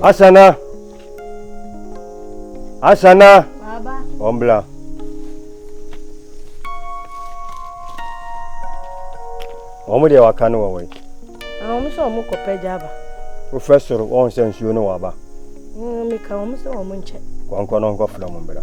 Asana. Asana. Baba. Ombla. Wɔn deɛ waka no wɔ wɔ yi. Wɔn sɛ wɔn kɔ pɛ gya aba. Wofɛ soro wɔn sɛ nsuo no wɔ aba. Mmeka wɔn sɛ wɔn nkyɛ. Wɔn kɔ no nkɔ fila mu mbra.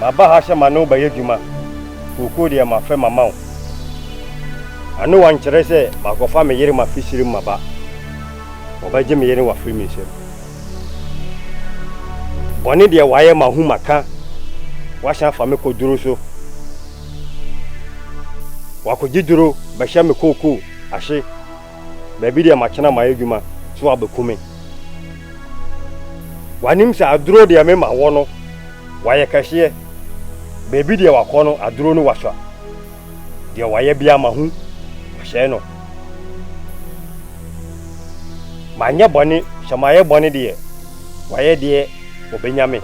Maba ha sɛ ma ne wo bɛyɛ adwuma, kookoo deɛ mafɛ mama wo. Anoa nkyerɛ sɛ makɔfa me yere mafi sire mu maba. Wɔbɛgye me yere no afiri me nsam. Bɔne deɛ wayɛ mahu maka, wasan afa me kɔ duro so. Wakɔgye duro bɛhyɛ me kookoo ahye. Baabi deɛ makyena mayɛ adwuma sɛ wabɛku me. Wanim sɛ aduro deɛ mema wɔ no wayɛ kɛseɛ. Baabi deɛ wakɔ no aduro no wasua. Deɛ wayɛ bia mahu wahyɛe no. Manyɛ bɔne sɛ mayɛ bɔne deɛ wayɛ deɛ ɔbɛnya me.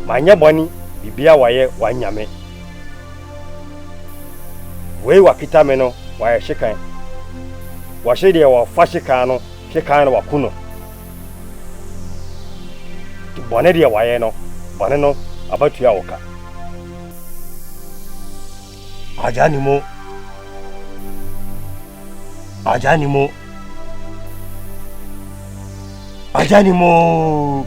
Manyɛ bɔne bibia wayɛ wanya me. Wei wakita me no wayɛ hyekan. Wɔhye deɛ wɔfa hyekan no hyekan na waku no. Bɔne deɛ wayɛ no, bɔne no abatua wo ka. Agya ni mo. Agya ni mo. Agya ni mo.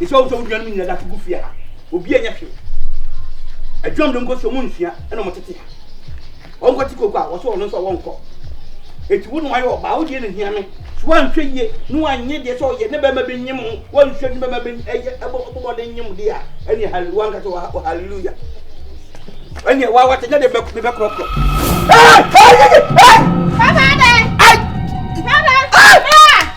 Ɛsɛ sɛ wohu sɛ wo nuanom nyina da so gu fie ha. Obi anyɛ hwee. Adwam de nkɔsi ɔmo nsua ɛna ɔmo tete ha. Ɔnkɔ te koko a wɔsɛ ɔno nso wɔnkɔ. Eti wo na wayɛ ɔbaa wo deɛ na hia me. So wanhwɛ yie na wanyɛ deɛ sɛ ɔyɛ ne bɛma bɛ nyem ho wanhwɛ ne bɛma bɛ ɛyɛ ɛbɔ ɛbɔ bɔden nyem deɛ a ɛne hallelujah wanka sɛ wɔ hallelujah. Ɛne wa wate nyɛ de bɛ bɛ korɔkorɔ. Ɛɛ ɛɛ ɛɛ. Papa dɛ. Ai. Papa. Ai.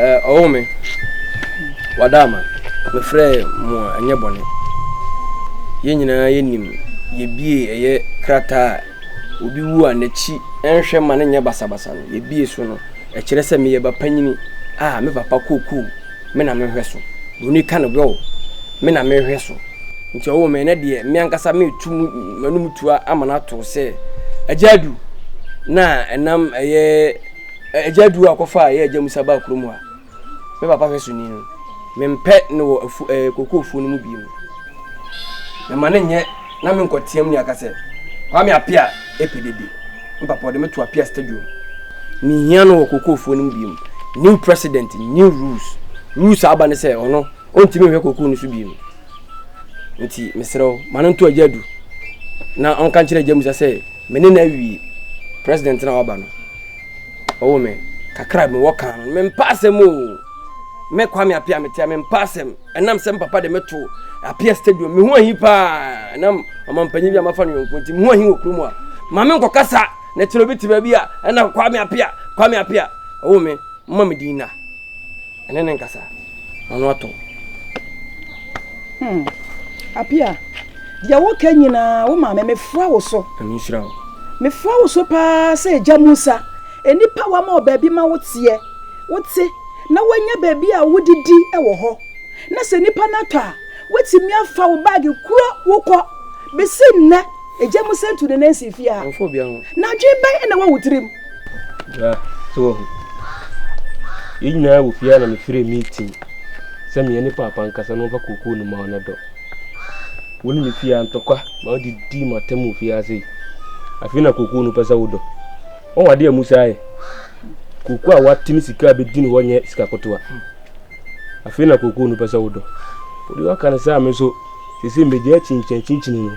ɔwo me wada ama mefrɛɛ mo a ɛnyɛ bɔne yɛn nyinaa yɛnim yɛbie ɛyɛ krataa a obi wu a n'akyi ɛnhwɛ ma no nyɛ basabasa no yɛbie so no ɛkyerɛ sɛ meyɛ ba panyini a me papa kookoo me na mehwɛ so broni ka no bɛo me na mehwɛ so nti ɔwo me ɛnɛ deɛ me ankasa metu m'anum tua ama no ato sɛ agya adu na ɛnam ɛyɛ Agya du a kɔfa a yɛ agya musa baa kurom hɔ a me papa hwɛ so ni no me mpɛ no wɔ afu ɛɛ koko afuo no mu bie mu me ma ne nyɛ na me nkɔ team ne aka sɛ kwa me ape a epe dede me papa ɔde me to ape a stadium me hia no wɔ koko afuo no mu bie mu new president new rules rules a aba ne sɛ ɔno ɔntumi nhwɛ koko no so bie mu nti me serɛ wo ma no nto agya du na ɔnka nkyerɛ agya musa sɛ me ne no awie president na waba no ɔwɔ me kakra me wɔ kan no me mpa asɛm o me kwame apia me tia me mpa asɛm ɛnam sɛ papa de me to apia stadium me ho ahi paa ɛnam ɔmampanyin bi a mafa no yɔnko nti me ho ahi wɔ kurom a ma me nkɔ kasa na kyerɛ obi te baabi a ɛna kwame apia kwame apia ɔwɔ me mma me din na Ɛne ne nkasa na no atɔ. Hmm. Apia, deɛ woka nyinaa wo maame mefra wo so. Ɛno nhyira wo. Mefra wo so paa sɛ Agya Musa. Nnipa wama wɔ baabi ma wo teɛ, wo te, na wanya baabi a wodidi wɔ hɔ. Na sɛ nnipa no atɔ a, woatumi afa wo baage kuro wo kɔ. Bɛsi nnɛ. Egya mu sɛ ntu ne nan si fie ha. Wɔmfa obiara ho. Na adwene bɛn na ɛwɔ wo tirim? Bra, so wahu. Yɛn nyinaa wɔ fie ha na mefrɛ meeting sɛ meɛ ne paapa nkasa na wɔmfa kookoo no ma wo na dɔ. Wo ne me fie ha ntɔkwa ma wode di m'atam wɔ fie ha sei. Afei na kookoo no pɛ sɛ wodɔ. Wɔn adeɛ a Musa ayɛ. Kookoo a wate ne sika a bɛdi ne hɔ nyɛ sika kotoa. Afei na kookoo no pɛ sɛ wodɔ. Wode waka no saa me nso sese mmegya akyinkyinakyinkyin no.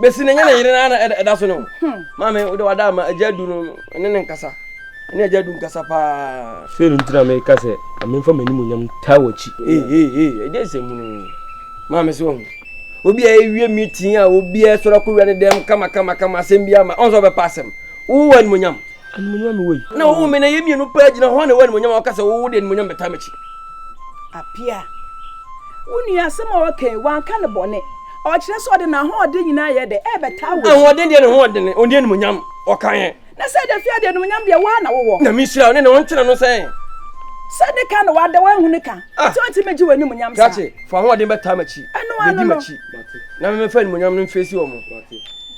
Besi ne nyɛ ne yere na ɛda so ne ho. Hmm. Maame wode wada ama agya du no ne ne nkasa. Ne agya du nkasa paa. Sɛ no ntina me ka sɛ amemfa m'anim onyam taa w'akyi. Ee ee ee ɛde nsɛm mu no. Maame sɛ wahu. Obi a ɛwie meeting a obi a ɛsɔrɔ kɔ wia ne dɛm kama kama kama asɛm bi ama. Ɔn sɛ ɔbɛpa asɛm. Wo wɔ animonyam. Animonyam me wɔ yi. Na wo me na yɛ mmienu paa gyina hɔ na wɔ animonyam a ɔka sɛ wo de animonyam bɛtaa m'akyi. Apia. Wo nua asɛm a ɔka yi wanka ne bɔne. Ɔkyerɛ sɛ ɔde n'ahoɔden nyinaa yɛ dɛ ɛbɛtaa wɔ. Ahoɔden deɛ ne ho ɔden, ɔnni animonyam, ɔka yɛn. Na sɛ ɛda fia deɛ animonyam deɛ woa na wowɔ. Nyame nhyira wo ne ne ho ntena no sɛ. Sɛ ne ka na wada woahu ne ka, sɛ ɔnti mɛgye wɔ animonyam saa. Krakye, fa ahoɔden bɛtaa m'akyi, bɛdi m'akyi, na me mɛfa animonyam no mfeesi wɔn.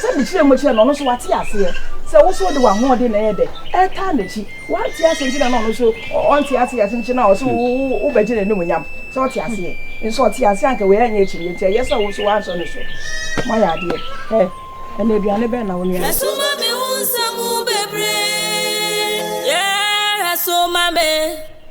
Sɛ mekyerɛɛ mu kyerɛɛ no, ɔno nso wate aseɛ sɛ wo nso wode w'ahoɔden na ɛyɛ dɛ ɛretaa n'akyi. Wante aseɛ nti na na ɔno nso ɔnte aseɛ ase nti na ɔse wobɛgye n'animuonyam. Sɛ ɔte aseɛ nso ɔte aseɛ anka wei anyɛ akyinnyeɛ nti ɛyɛ sɛ wo nso woansɔ ne so. Moayɛ adeɛ ɛ ɛna aduane bɛn na wo nua no. Soma me wo nsɛm bebree yeah soma me.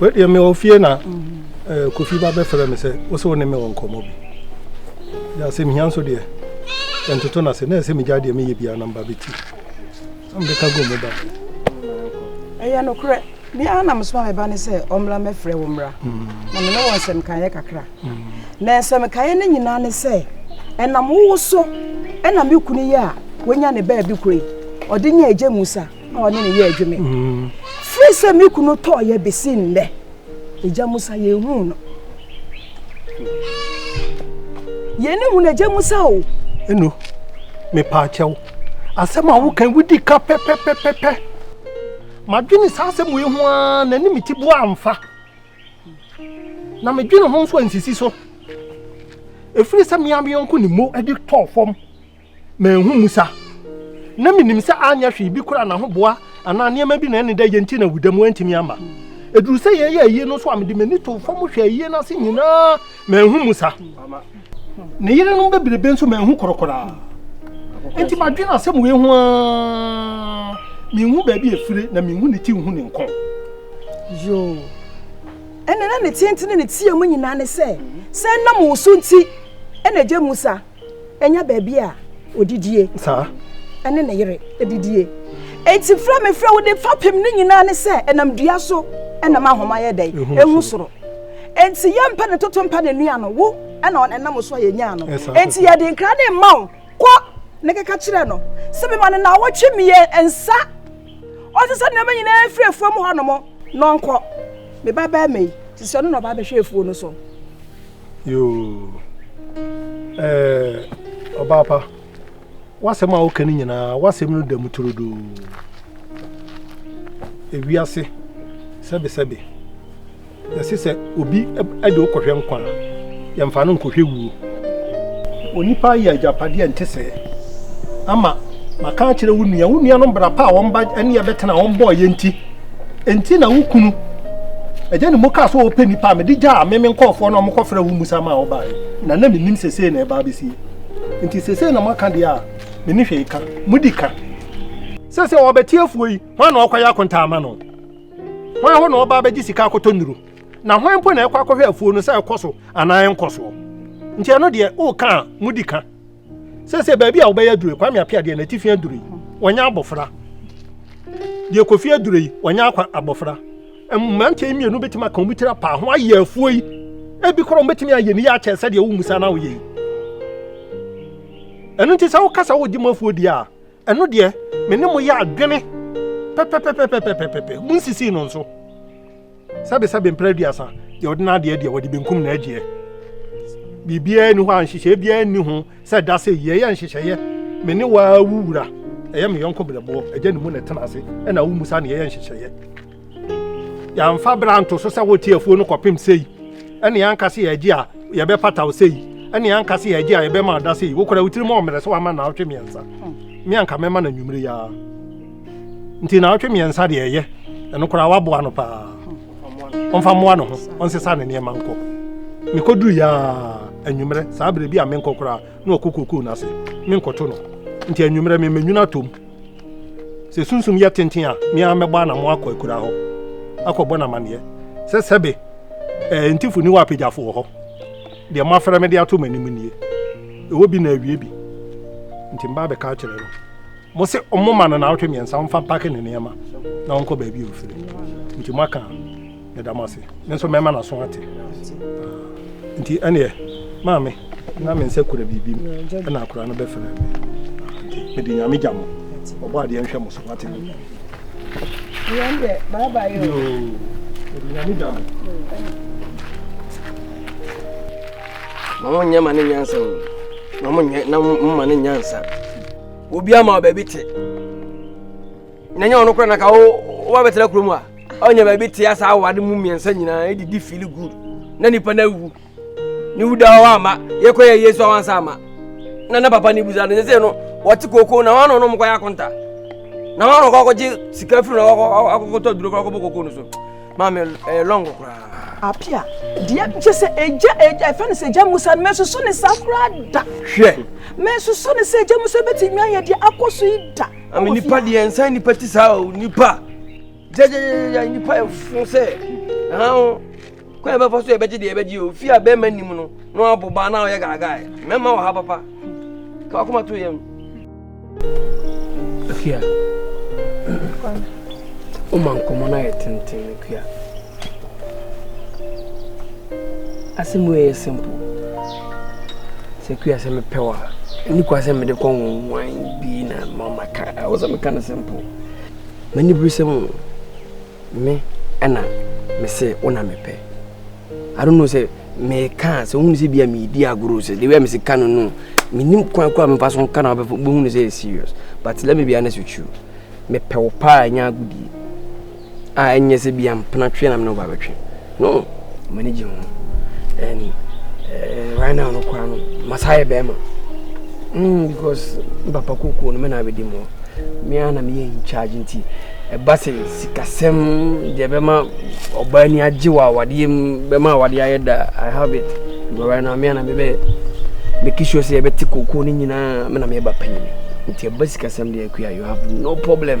wedeɛ me ɔfie na eh, kofi ba bɛfrɛ me sɛ wo sɛ wo ne me wɔ nkɔmmɔ bi yɛ asɛm hia nso deɛ ɛntoto no ase na ɛsɛ megya deɛ meyɛ bia na mba bɛti Ɔmbɛka gua mu ba. Ɛyɛ nokorɛ, me ara na mesoma me ba no sɛ ɔmmra mmɛfrɛ wo mmra, na me ne wɔ nsɛmkaeɛ kakra. Na nsɛmkaeɛ no nyinaa ne sɛ, ɛnam wo wo so na me kunu yi a wanya ne baabi koro yi, ɔde nya agya musa a ɔne ne yɛ adwuma. Firi sɛ me kunu tɔɔyɛ bɛsi nnɛ, Agya Musa, yɛnhuu no. Yɛne hu no, Agya Musa o. Eno, mepaakyɛ wo. Asɛm a wokan wodi ka pɛpɛpɛpɛpɛ. Madwene saa asɛm wei ho ara na ne meti boa amfa. Na medwene ho nso ansisi so. Ɛfiri sɛ mea me yɔnko ne mo adi tɔɔ fam. Manhu Musa. Ná minim sɛ anyɛ hwee bi kura n'ahoboa anaa nneɛma bi na ɛne dɛ yɛ nti na awuda mu antumi amma. Eduru sɛ yɛyɛ ayie no so a, mede m'ani too fam hwɛ ayie no ase nyinaa, manhu Musa. Ne yerenom bebrebe nso manhu koro koraa. Enti madwene asɛm wei ho aa, menhu baabi a efire na menhu ne ti nhu ne nkɔn. Yoo, ɛnna na ne tenten ne ne teɛ mu nyinaa ne sɛ, sɛ ɛnam wo so nti na agya Musa. ɛnyɛ baabi a odidie ɛne ne yere ɛdidie enti frɛ me frɛ wode fapem ne nyinaa ne sɛ ɛnam dua so ɛnam ahoma yɛ dɛn ɛhu soro enti yɛmpɛ ne toto mpɛ ne nua no wo ɛna ɛnam so a yɛnyaa no enti yɛde nkra ne mma wo kɔ ne keka kyerɛ no sɛ mema no na wɔtwe mmiɛ nsa ɔte sɛ nneɛma nyinaa firi afuo mu hɔ nom na ɔnkɔ me ba bɛrima yi te sɛ ɔno na ɔba bɛhwɛ afuo no so yoo ɛɛ ɔbaa pa w'asɛm a woka no nyinaa w'asɛm no da mu turodoo ewiase sɛbesɛbe yɛse sɛ obi de wo kɔhwɛ nkwa a yɛmfa no nkɔhwɛ wuo onipa yɛ agyapadeɛ a nte sɛɛ ama maka akyerɛ wo nua wo nua no mbra pa a wɔn ba ne yɛbɛtena wɔn bɔɔ yɛ nti Enti na wo kunu agya ne mu kaa sɛ ɔpɛ nipa a mede gyaa me me nkɔɔfoɔ no a wɔkɔfrɛ wo mmusa ma a wɔbaeɛ na na menim sesei na ɛba abɛsie nti sesei na moaka deɛ a me ne hwee ka modi ka sɛ sɛ wɔbɛte afuo yi hwan na ɔkɔyɛ akontaa ma no hwan hɔ na ɔba abɛgye sika akɔtɔ nnuro na hwan mpo na ɛkɔ akɔhwɛ afuo no sɛ ɛkɔ so anaa ɛnkɔ soɔ nti ɛno deɛ woka a modi ka sɛ sɛ baabi a wobɛyɛ aduro kwame apia deɛ n'atifi aduro yi wɔnyɛ abɔfra deɛ kofi aduro yi wɔnyɛ akwa abɔfra mmeranteɛ mmienu bɛtumi aka wɔn tiri apaa ho ayɛ afuo yi ebi korɔ wɔn bɛtumi ayɛ ne yɛ akyɛ sɛdeɛ wo musa na woyɛ yi ɛno nti sɛ wokasa wodi mu afuo deɛ a Ɛno deɛ, me ne mo yɛ adwene pɛpɛpɛpɛpɛpɛpɛ, monsisi no nso. Sɛbesɛbe mpere aduasa, deɛ ɔde n'adeɛ deɛ, wɔde benkum no agyeɛ. Biribiara nni hɔ a nhyehyɛeɛ biara nni ho sɛ da sɛ yi, ɛyɛ nhyehyɛeɛ, me ne wo ara wo wura, ɛyɛ me yɔnko berɛboɔ, agya ne mu na ɛtena ase, ɛnna wommisa nea ɛyɛ nhyehyɛeɛ. yɛamfa bra nto so sɛ wote afuo no kɔpem sei ɛne yɛanka sɛ yɛagye a yɛbɛpata wo sei ɛne yɛanka sɛ yɛagye a yɛbɛma ɔda sei wokora wo tirim ɔmmerɛ sɛ wama naawɔtwe mmiɛnsa hmm. me anka mɛma no anwummere yaa nti naawɔtwe mmiɛnsa deɛ ɛyɛ ɛno koraa waboa no paa hmm. ɔmfa mmoa no ho ɔnsesa ne nneɛma nkɔ mekɔduru yaa anwummerɛ saa berɛ bi a menkɔ koraa na ɔkɔ kokoo no ase, menkɔto no. Nti anwummerɛ mema nwunu atom. Sɛ sunsum yɛ tenten a, me ara mɛbɔ anamɔ akɔ akuraa hɔ akɔbɔ no amanneɛ sɛ sɛbe ɛɛ ntifo ni hɔ a apagyafo wɔ hɔ. Deɛ moafrɛ me de ato m'anim nie. Ɛwɔ bi na awie bi. Nti meba abɛka akyerɛ no. Mose wɔmma no naawɔtwe mmiɛnsa wɔmfa mpake ne nneɛma na wɔnkɔ baabi a ɔfiri. Nti moaka a. meda mo ase me nso mɛma n'aso ate ah, nti ɛneɛ maame na me nsɛ kura biribi mu ɛna akora no bɛfrɛ me ah, nti mede nyame gya mo ɔbɔ adeɛ nhwɛ mo so wate mo ma mo nyɛ ma ne nyansa o ma mo nyɛ na mo ma ne nyansa obi ama ɔbaabi te na nyɛ ɔno kora na ka wo woba bɛtena kurom a ɔnyɛ baabi tea saa awade mu mmiɛnsa nyinaa ɛdidi fili good na nipa no awu ne wuda hɔ ama yɛkɔ yɛ yesu awansa ama na na papa ne busa no sɛ sɛ no wɔte kooko na wɔn ano nom kɔyɛ akonta na wɔn ano kɔkɔgye sika firi na wɔkɔkɔtɔ duro kɔkɔbɔ kooko no so maame ɛyɛ lɔngo koraa apia deɛ kyɛ sɛ ɛgya ɛgya ɛfɛ no sɛ ɛgya musa no mɛsoso ne saa koraa da hwɛ mɛsoso ne sɛ ɛgya musa bɛtumi ayɛ deɛ akɔ so yi da Ami nipa deɛ nsa nipa ti saa o nipa gyɛgyɛgyɛgyɛ nipa ɛfo sɛ ɛhan o kwan bɛfa so ɛbɛgye deɛ ɛbɛgye o fi a bɛrima nim no na wabɔ baa na ɔyɛ gaagaa yɛ mɛma wɔ ha papa ka wakoma to yɛm. Akia, o ma nkɔmɔ na yɛ tenten akia. Asɛm wei yɛ simple. Sɛ kua sɛ mepɛ wo a, ɛni kwa sɛ mede kɔ nwonwan bi na ma maka. Ɛwɔ sɛ meka no simple. M'ani bere sɛ mu me ɛna mese wo na mepɛ. I don't know sɛ meka sɛ wohunu sɛ bia meedi agorɔ sɛ the way a mese ka no no menim kwan kɔ a mefa so nka na wobɛhunu sɛ yɛ serious but let me be honest with you mepɛ wo paa ɛnyɛ agodie a ɛnyɛ sɛ bia mpena twe na mene wo ba bɛtwe no m'ani gye ho and uh, right now no koraa no masaa yɛ bɛrima mm, because papa kokuo no me na bɛdi mu mea na meyɛ in charge nti ɛba sɛ sikasɛm deɛ bɛma ɔbaa ni agye wɔ awadeɛ mu bɛma awadeɛ ayɛ da i have it but right now mea na mebɛ meki sure sɛ yɛbɛte kokuo no nyinaa me na meyɛ ba panyini nti ɛba sikasɛm deɛ akua you have no problem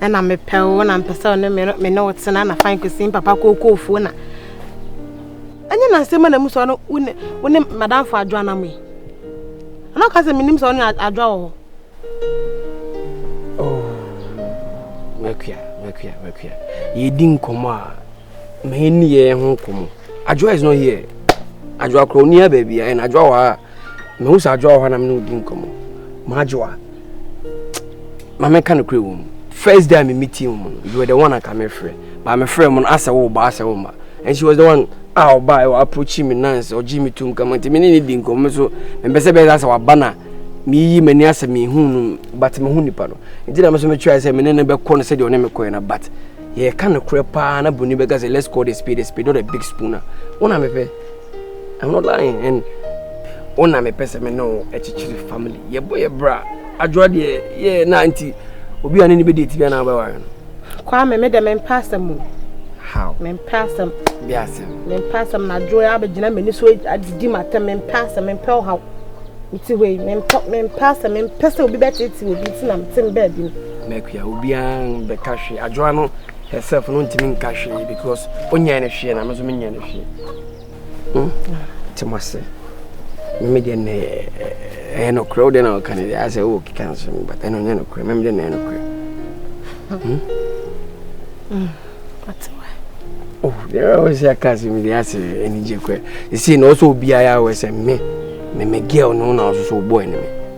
ɛna mepɛ wo na mpɛ sɛ ɔne me ne wo tena na fan kɔsi papa kookoofoɔ na ɛnyɛ nansɛm na mu sɛ ɔno wo ne madamfo adwo anam yi ɛna ɔka sɛ menim sɛ ɔne adwo wɔ hɔ oh, makua makua makua yɛdi nkɔmmɔ a mɛni yɛ ho nkɔmmɔ adwoa is not here adwoa korɔ ɔni ha baabi a ɛna adwoa wɔ ha mehu sɛ adwoa wɔ hɔ na me ne wodi nkɔmmɔ maadwoa ma meka no korɛ wɔ mu first day a meme tie mu no you were the one anka mefrɛ baa mefrɛ mu no asɛ wo ba asɛ wo ma and she was the one a ɔba ɛwɔ approach me nans ɔgye me tom kama nti me ne ne di nkɔmmɔ me so mempɛ sɛ bɛyɛ sɛ waba na meyi m'ani asɛ mehu no but mehu nipa no nti na me so metwae sɛ me ne no bɛkɔ no sɛdeɛ ɔne mekɔɛ no but yɛka no korɛ paa na boni bɛka sɛ let's call the spade a spade not a big spooner wona mepɛ Ɛno line and wo na mepɛ sɛ me ne wo akyekyere family yɛbɔ yɛ bra adwoa deɛ yɛ na nti obi a ne ne bɛdi ati bi anaa wobɛware no kwaa me medɛ mempɛ asɛm mu how mempɛ asɛm bi asɛm mempɛ asɛm na adwoa abɛgyina m'ani so adidi m'atɛm mempɛ asɛm mempɛ ɔhaw mete hɔ yi mempɛ mempɛ asɛm mempɛ sɛ obi bɛtete obi nti na mete mbaa bi no mɛkua obiara bɛka hwe adwoa no herself no ntimi nka hwee because onyɛn no hwee na me nso menyɛn no hwee hmm? nti mo ase meme deɛ nnɛ ɛyɛ nokorɛ wode na ɔka no deɛ asɛ wowɔ keka nso no but ɛno nyɛ nokorɛ meme deɛ na ɛyɛ nokorɛ hmm? hmm, oh, deɛ ɛwɔ sɛ aka asɛm deɛ asɛ anigye korɛ ɛsei na ɔsɛ obiaa yɛ awɔ sɛ me me me girl no na ɔso so wobɔɔ ne me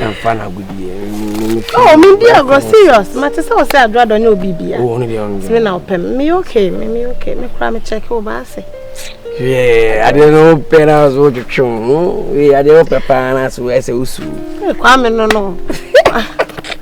ɛmfa no agodie oh medi agorɔ serious mate sɛ wo sɛ adwo adɔ nyɛ obi bia sɛme na wopɛ me meyɛ okay me meyɛ okay me koraa mekyɛke wo baa sɛ adeɛ no wopɛ no a so wotwetwe wo ho adeɛ wopɛ paa no a so ɛsɛ wosuo kwame no no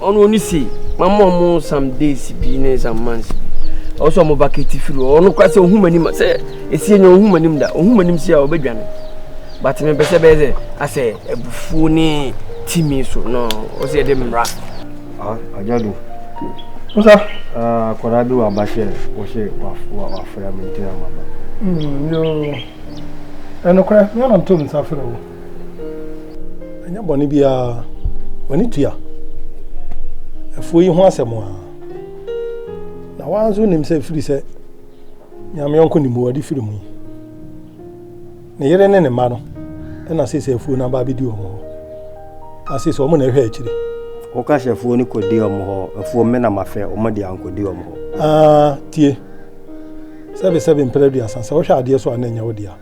Ɔno ɔno se mama ɔmo some days bi ne some months bi ɔwɔ sɛ ɔmo ba kɛti firi hɔ ɔno kora sɛ ohun m'anim sɛ esie nyɛ ohun m'anim da ohun m'anim si a ɔbɛdwane but mepɛ sɛ bɛyɛ sɛ asɛ abufuo ne timi so no ɔsɛ yɛde mmara. agyado musa akwadaa bi wɔ aba sɛ wɔhyɛ wafra me nti na maba. ɛnokorɛ meana ntom nsa frɛ wo Ɛnyɛ bɔne biara. W'ani tua. Afuo yi ho asɛm a. Na wɔn nso nim sɛ firi sɛ nyame ɔnko ne mu wɔde firi mu yi. Ne yere ne ne mma no ɛna sɛ sɛ afuo no aba abɛdi wɔn hɔ. Ase sɛ wɔn na ɛhwɛ akyire. Wɔka hyɛ afuo no kɔdi wɔn hɔ. Afuo mmena mafɛ wɔn de ankɔdi wɔn hɔ. Aa tie. Sɛbe sɛbe mprɛ aduasa sɛ wohwɛ adeɛ so a na ɛnyɛ wo dea.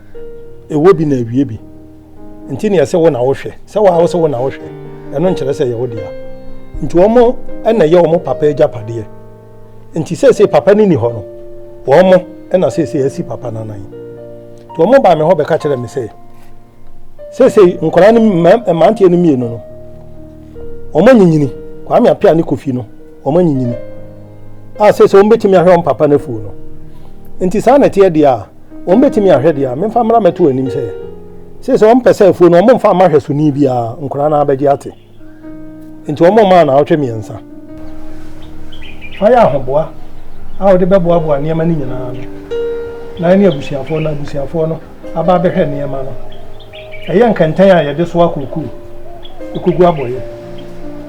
ɛwɔ bi na awie bi nti neɛ sɛ wo na wohwɛ sɛ waa wo sɛ wo na wohwɛ ɛno nkyerɛ sɛ yɛ wo dea nti wɔn ɛna yɛ wɔn papa agyapadeɛ nti sɛsɛ papa no ni hɔ no wɔn ɛna sɛsɛ asi papa no anan nti wɔn baa me hɔ bɛka kyerɛ me sɛ sɛsɛ nkwadaa no mmeranteɛ no mmienu no wɔn anyinyini kwame apia ne kofi no Wɔanyinyin, a seesei wɔbetumi ahwɛ wɔn papa no afuw no. Enti saa na ɛteɛ deɛ a, wɔbetumi ahwɛ deɛ a. Memfa mmra mmɛto w'anim sɛ, seesei wɔmpɛ sɛ afuw no wɔmfa mma hwɛsoni biara, nkwadaa no ara bɛgye ate. Enti wɔmmaa anaawɔtwe mmiɛnsa. Fa yɛ ahoboa a wode bɛboaboa nneɛma no nyinaa ano, na ɛne abusuafoɔ no, abusuafoɔ no. aba abɛhwɛ nneɛma no. Ɛyɛ nkɛntɛn a yɛde soa kookoo, kogu abɔeɛ,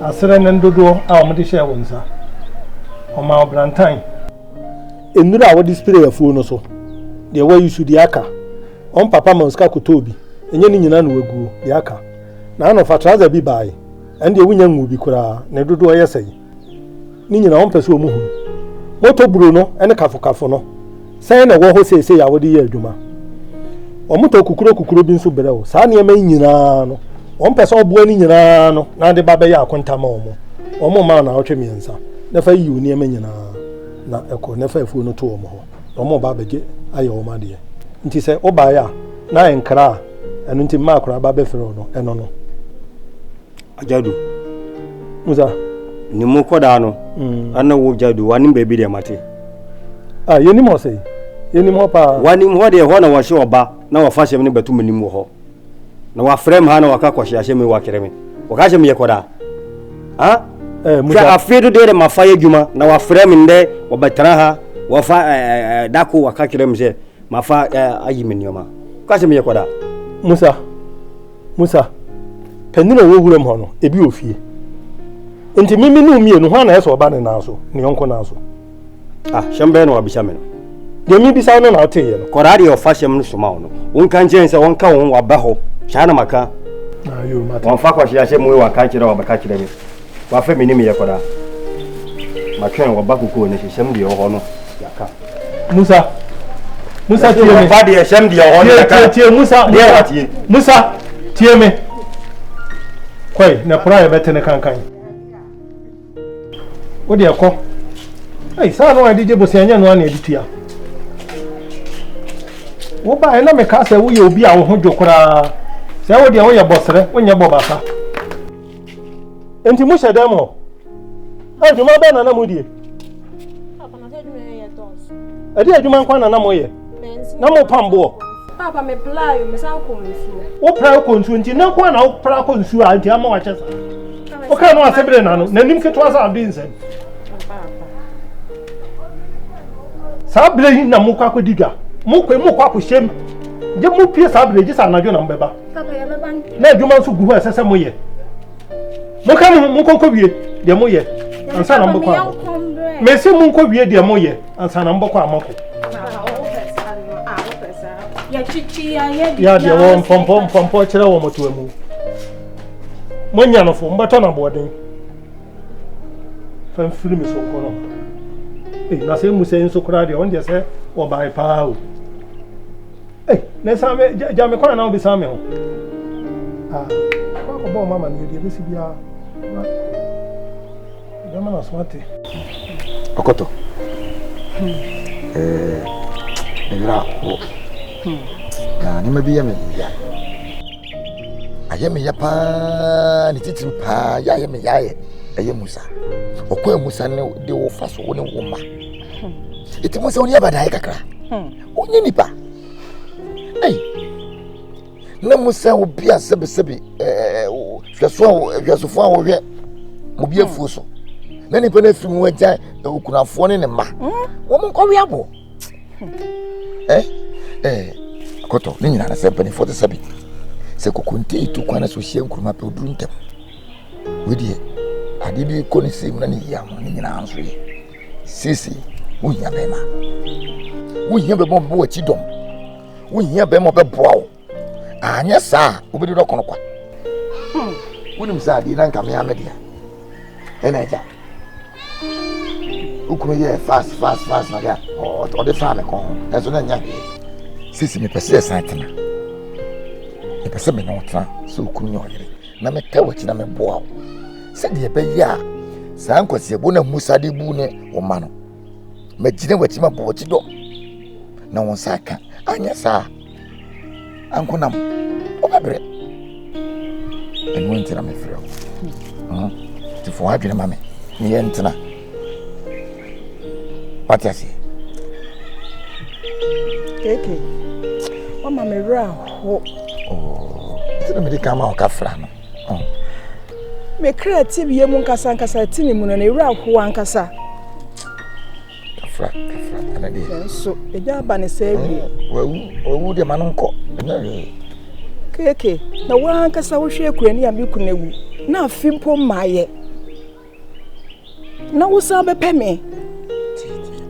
aserɛ ne ndodoɔ a wɔde hyɛɛ wo nsa. Wɔmaa wo brantan. Nnuro a wɔde spree afuo no so. Deɛ wayi so deɛ aka. Wɔn papa ma wo sika kɔtɔɔ bi. Ɛnyɛ ne nyinaa na waguo. Deɛ aka. N'ano fa trouser bi bae. Ɛndeɛ wonya nguu bi koraa. Ne dodoɔ yɛ sɛn? ne nyinaa wɔn pɛ sɛ wɔn hunu. Moto buru no ne kafokafo no, sɛn na ɛwɔ hɔ seesei a wɔde yɛ adwuma? Wɔtɔ kukuro kukuro bi nso brɛ wo. Saa nneɛma yi nyinaa no, wɔn pɛ sɛ ɔboa ne nyinaa no na ade ba bɛyɛ akonta ma wɔn. Wɔn mma wo naawɔtwe mmiɛnsa, na fa yi wo nneɛma nyinaa na ɛkɔ, na fa afuo no to wɔn hɔ, na wɔn reba abɛgye ayɛ wɔn adeɛ. Nti sɛ wobaeɛ a, na ɛnkra a ɛno nti mmaa koraa ba bɛfrɛ wo no, ɛno no. Ajadu. Musa. Ni mu kɔdaa no. Mm. Ana wo jadu wani baabi deɛ mate. Ah yɛnim hɔ sɛ yɛnim hɔ paa. Wanim hɔ deɛ hɔ na wɔhyɛ ɔba na wɔfa hyɛm ne bɛto menim wɔ hɔ. Na wafrɛ me ha na waka kɔhyɛ ahyɛ me wakyerɛ me. Wɔka hyɛ me yɛ kɔdaa. Ah. Eh, Musa. Hwɛ afei do deɛ de mafa yɛ adwuma na wafrɛ me ndɛ wɔbɛtena ha wɔfa eh, eh, eh, dako waka kyerɛ me sɛ mafa eh, ayi me nneɛma. Wɔka hyɛ me yɛ kɔdaa. Musa. Musa, panin a ɔwɔ wuram hɔ no, ebi wɔ fie. Nti mimi ne mmienu, hwan na ɛsɛ ɔba ne nan so, ne yɔnko nan so? Ah, hyɛm bɛyɛ na wabisa me no. Deɛ mibisa wo no na woteeɛ no. Kɔdaa deɛ ɔfa hyɛm no soma wo no, wonka nkyɛn sɛ wɔnka wo ho waba hɔ. Saa na maka. Wɔmfa kwahye ahyɛ mu wei waka nkyerɛ wɔbɛka kyerɛ me. W'afɛ me ne me yɛ kɔda. Matwɛn wɔ ba kokoo ne hyehyɛm deɛ ɔhɔ no yaka. Musa. Musa tie me. Ba deɛ hyɛm deɛ ɔhɔ no yaka. Tie tie Musa. Deɛ wa tie. Musa tie me. Kɔi na pura yɛ bɛte ne kankan. Wo deɛ kɔ. Ei saa no a ɛde gye bosia nyɛ no a na ɛde tua. Wo ba ɛna me ka sɛ woyɛ obi a wo ho dwo koraa. Sɛ wo deɛ woyɛ bɔsrɛ wonyɛ bɔ basa. Nti mo hyɛ dɛm hɔ. Adwuma bɛn na na mo die? Papa na adwuma yɛ yɛ dɔɔso. Ɛde adwuma nkwa na na mo yɛ. Na mo pam boɔ. Papa me pla yo me san kɔ nsuo. Wo pra kɔ nsuo nti na nkwa na wo pra kɔ nsuo a nti ama wakyɛ sa. Wo ka no ase bere na no na nim ketewa sa abdi nsɛm. Saa bere yi na mo kɔ akɔdi dwa. Mo kɔ mo kɔ akɔhyɛm. Gye mo pie saa bere gye sa anadwo na mo bɛba. na adwuma nso gu hɔ a ɛsɛ sɛ moyɛ monka mo ho monkɔnkɔ wie deɛ moyɛ ansa na mobɛkɔ amɔko mese monkɔ wie deɛ moyɛ ansa na mobɛkɔ amɔko yɛadeɛ wɔ mpɔmpɔ mpɔmpɔ kyerɛ wɔ mɔtoa mu moanya nofo mobɛtɔ no aboɔden fa mfiri me so nkɔ no na sɛ mu sɛ nso koraa deɛ ɔndeɛ sɛ wɔbae paa o Hey, na san me gya me kwan na obi san me ho. Ah, kwa ko bo mama ne de besi bia. Be ma na so ate. Okoto. Eh, me bra wo. Na ne ma bi ya me ya. Ayɛ me ya paa, ne titiri paa, ya ayɛ me ya ayɛ. Ɛyɛ Musa. Ɔkɔ Musa ne de wo fa so wo ne wo ma. Eti mo sɛ wo ne abadae kakra. Wonyɛ nipa. Ei. Na mu sɛ obi a sɛbesɛbe ɛɛ hwɛso a hwɛsofo a wɔhwɛ mo bi afuo so. Na nipa no afiri mu agya okunafoɔ ne ne mma. Hmm? Wɔn nkɔwe aboɔ. Ɛ ɛ akɔtɔ ne nyinaa sɛ mpanimfoɔ te sɛ bi. Sɛ kokonte yi tu kwan na so hyia nkuruma pɛ oduru ntɛm. Wedeɛ adeɛ bi kɔ ne sɛ mu na ne yia ho ne nyinaa nso yɛ. Seesei wohia bɛrima. Wohia bɛrima ɔbɛbɔ w'akyi dɔm. Wohia bɛrima ɔbɛboa wo. Anyɛ saa a wobɛdi dɔ kɔnɔ kwa. Hmm. Wonim sɛ adeɛ na nka mea me deɛ. Ɛna agya. Wokunu yɛ fast fast fast na deɛ ɔde faa me kɔn ho. Nanso na ɛnyɛ hwee. Seesei mepɛ sɛ yɛsan tena. Mepɛ sɛ me ne wo tena sɛ okunu ne ɔyere. na mɛtɛ w'akyi na mɛboa wo sɛdeɛ ɛbɛyɛ a saa nkwasiabuo no a musa de bu ne wo ma no magyina w'akyi ma bɔ w'akyi dɔm na wo nsa aka anyɛ saa ankonam wobɛbrɛ ɛno nti na mefrɛ wo hmm. nti fa w'adwene ma me ne yɛntena wate aseɛ keke wama me werɛ aho nti na mede ka ma ɔka fra no me kra ti bie mu nkasa nkasa ti ne mu no na ɛwerɛ aho ankasa kafra kafra ɛna deɛ nanso ɛgya aba ne sɛ awie wawu wawu deɛ ma no nkɔ ɛnyɛ hwee keke na woankasa wohwɛ akurani a me kuna wu na afe mpo mmaeɛ na wosan bɛpɛ me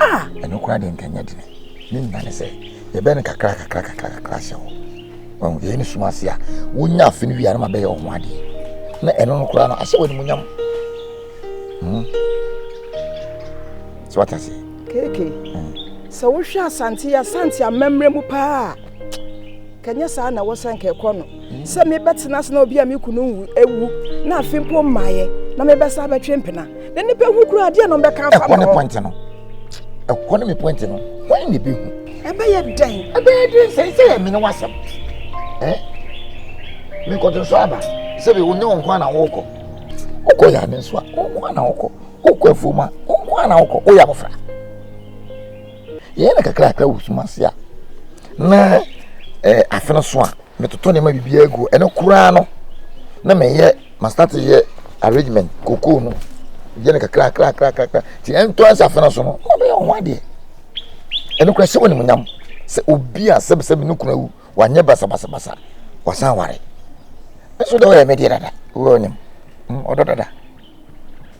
a. ɛno koraa deɛ nkɛnyɛ dene ne nyina ne sɛ yɛbɛyɛ no kakra kakra kakra kakra hyɛ hɔ wahu yɛyɛ no sum ase a wonya afe no wie a na mabɛyɛ wo ho adeɛ na ɛno no koraa no ahyɛ wɔ animuonyam hmm. sɛ wate aseɛ keke hmm. sɛ wohwɛ asante asante amammerɛ mu paa Nka ɛnyɛ saa na wɔsɛ nka ɛkɔ no sɛ mebɛtena ase na obi a me kunu nwu awu na afe mpo mmaeɛ na mebɛsa abɛtwe mpena na nnipa hu kura adeɛ na ɔmbɛka afa ɛkɔ ne pɔnte no ɛkɔ ne me pɔnte no wɔn ne bɛhu ɛbɛyɛ dɛn ɛbɛyɛ dɛn sɛ sɛ yɛ mene wasɛm ɛ menkɔto so aba sɛ bi wonyɛ wo nko ana wokɔ wokɔ yɛ ade nso a wonko ana wokɔ wokɔ afuom a wonko ana wokɔ woyɛ abɔfra Yɛyɛ no kakrakra wɔ sum ase a, na eh, afe no so a, metoto nneɛma biribiara gu. Ɛno koraa no, na meyɛ mastate yɛ arrangement kokoo no yɛ no kakrakrakrakra nti ɛntɔ ɛsɛ afe no so no na bɛyɛ ɔho adeɛ. Ɛno koraa hyɛ wɔ animuonyam sɛ obi a sɛbisɛbi ne kunu awu wanyɛ basabasabasa wasan ware. Nso deɛ ɔyɛ me deɛ dada, wɔ ɔnyam ɔdɔ dada.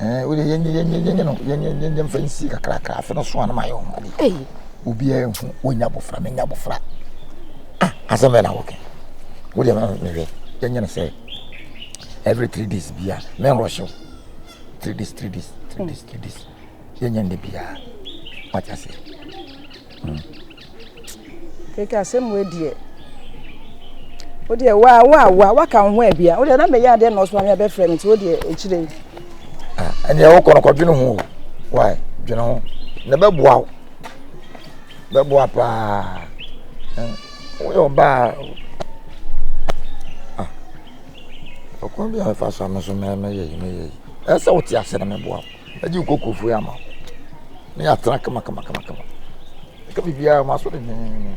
Ɛɛ wode yɛ yɛ yɛ yɛ no yɛ yɛ yɛ yɛ mfa nsi kakrakra afe no so a na mayɛ ho ade ei obiara nhu wonya abofra menya abofra ah asɛm bɛn na wɔkɛ wode ma mehwɛ yɛnyɛ no sɛ every three days bia mɛnrɔhyew three days three days three days three days yɛnyɛ nnɛ biara wate aseɛ mm. Kɛkɛ asɛm wei deɛ wo deɛ wo a wo a wo a waka wo ho abia wo deɛ na meyɛ adeɛ na ɔso ame abɛfrɛ me nti wo deɛ ɛkyire yi. ɛneɛ ah, wokɔ no kɔdwene ho wae dwene ho na bɛboa wo bɛboa paa hmm, woyɛ ɔbaa ah, ɔkwan bi a ɛfa so a me so mɛyɛ yi mɛyɛ yi ɛsɛ wote ase na mɛboa wo Mɛgye wo kokurofo yi ama wo, na yɛatena kama kama kama kama. Ɛka biribiara, maso denneennen.